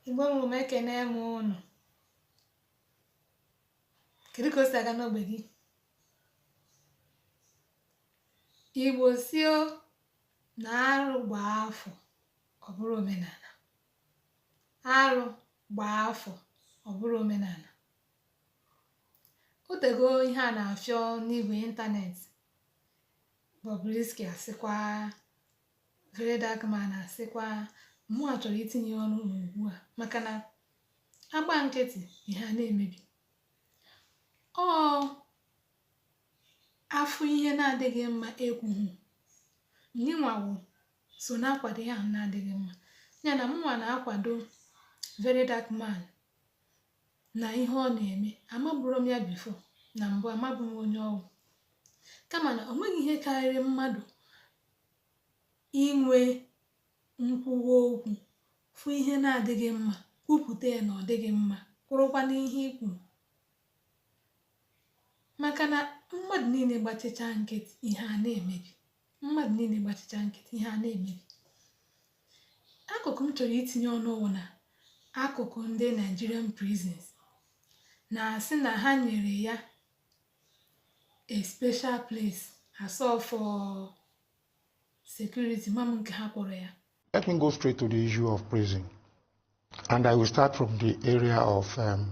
igbo mụrụ m ekene m ụnụ kedu ka o si aga n'ogbe gị igbo sị o na arụ gbaa afọ ọ bụrụ omenala arụ gbaa afọ ọ bụrụ omenala o tego ihe a na-afịọ n'igwe ịntanetị Bobrisky a sịkwa Very Dark Man a sịkwa mụnwa chọrọ itinye ọnụ n'ugbu a maka na a gba nkịtị ihe a na-emebi ọ afụ ihe na-adịghị mma ekwughị onye nwa ahụ so na-akwado ihe ahụ na-adịghị mma ya na mụnwa na-akwado Very Dark Man n'ihe ọ na-eme amaburu m ya bifo na mbụ amabu m onye ọ wụ kama na o nweghị ihe karịrị mmadụ inwe nkwuwa okwu fụ ihe na-adịghị mma kwupụta ya na ọ dịghị mma kwụrụkwa n'ihe i kwuru maka na mmadụ niile gbachicha nkịtị ihe a na-emebi mmadụ niile gbachicha nkịtị ihe a na-emebi akụkụ m chọrọ itinye ọnụ wụ na akụkụ ndị Nigerian prisons na-asị na ha nyere ya a special place a sị ọ for security ama m nke ha kpọrọ ya Let me go straight to the issue of prison. And I will start from the area of um,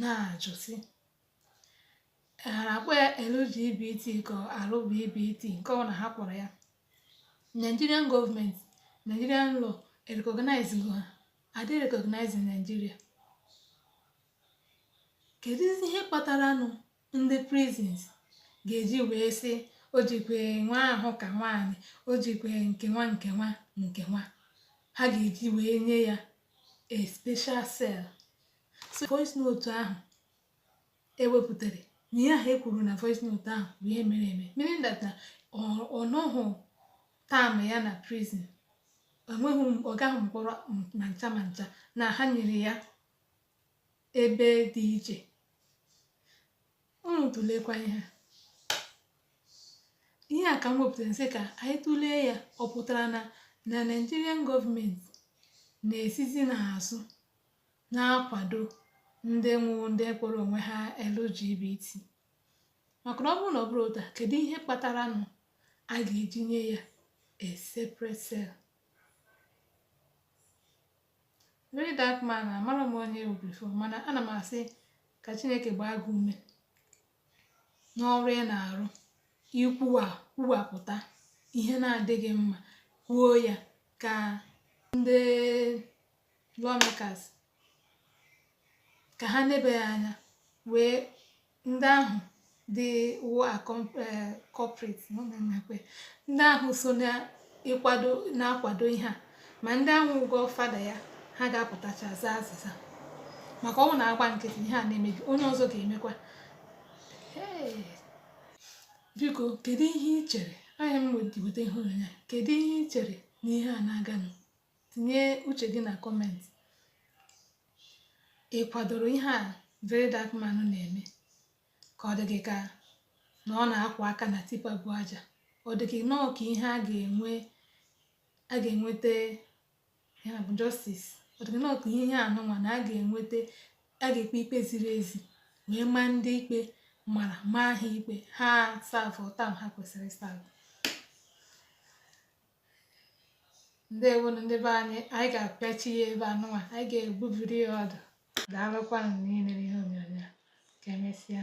na-ajụ sị ha na-akpọ ya LGBT ka RBBT nke ọ na ha kpọrọ ya Nigerian gọọmenti Nigerian law recognize ha are they recognized in Nigeria keduzi ihe kpataranụ ndị prisons ga-eji wee sị o jikwe nwa ahụ ka nwaanyị o jikwe nke nwa nke nwa nke nwa ha ga-eji wee nye ya a special cell so voice note ahụ e wepụtara na ihe ahụ e kwuru na voice note ahụ bụ ihe mere eme meaning that na ọ nọghị term ya na prison ọ gaghị mkpọrọ ma ncha ma ncha na ha nyere ya ebe dị iche unu tụlekwa ihe ihe a ka m wepụtara sị ka anyị tụlee ya ọ pụtara na na Nigerian gọọmenti na-esizi n'azụ na-akwado ndị wụ ndị kpọrọ onwe ha LGBT maka na ọ bụrụ na ọ bụrọ otu a kedu ihe kpataranụ a ga-eji nye ya a separate cell very dark man amara m onye ị bụ before mana ana m asị ka chineke gbaa gị ume n'ọrụ ị na-arụ ikwuwa kwuwapụta ihe na-adịghị mma kwuo ya ka ndị lawmakers ka ha nebe ya anya wee ndị ahụ dị wụ eh, corrupt nakwa ndị ahụ so n'ịkwado na-akwado ihe a ma ndị ahụ wụ godfather ya ha ga-apụtacha zaa azịza maka ọ wụ na a gbaa nkịtị ihe a na-emebi onye ọzọ ga-emekwa biko kedu ihe ị chere anya m weta ihe onyonyo a kedu ihe ị chere na ihe a na-aganụ tinye uche gị na comment ị kwadoro ihe a very dark man na-eme ka ọ dị gị ka na ọ na-akwa aka na tipa bu aja ọ dị gị nọọ ka ihe a ga-enwe a ga-enweta ya bụ justice ọ dị gị nọọ ka ihe anụnwa na a ga-enweta a ga-ekpe ikpe ziri ezi wee maa ndị ikpe mara maa ha ikpe ha serve term ha kwesịrị serve ndewonụ ndị be anyị anyị ga-apịachi ya ebe anụnwa anyị ga-egbubiri ya ọdụ daalụkwanụ n'ile ihe onyonyo a. ka emesịa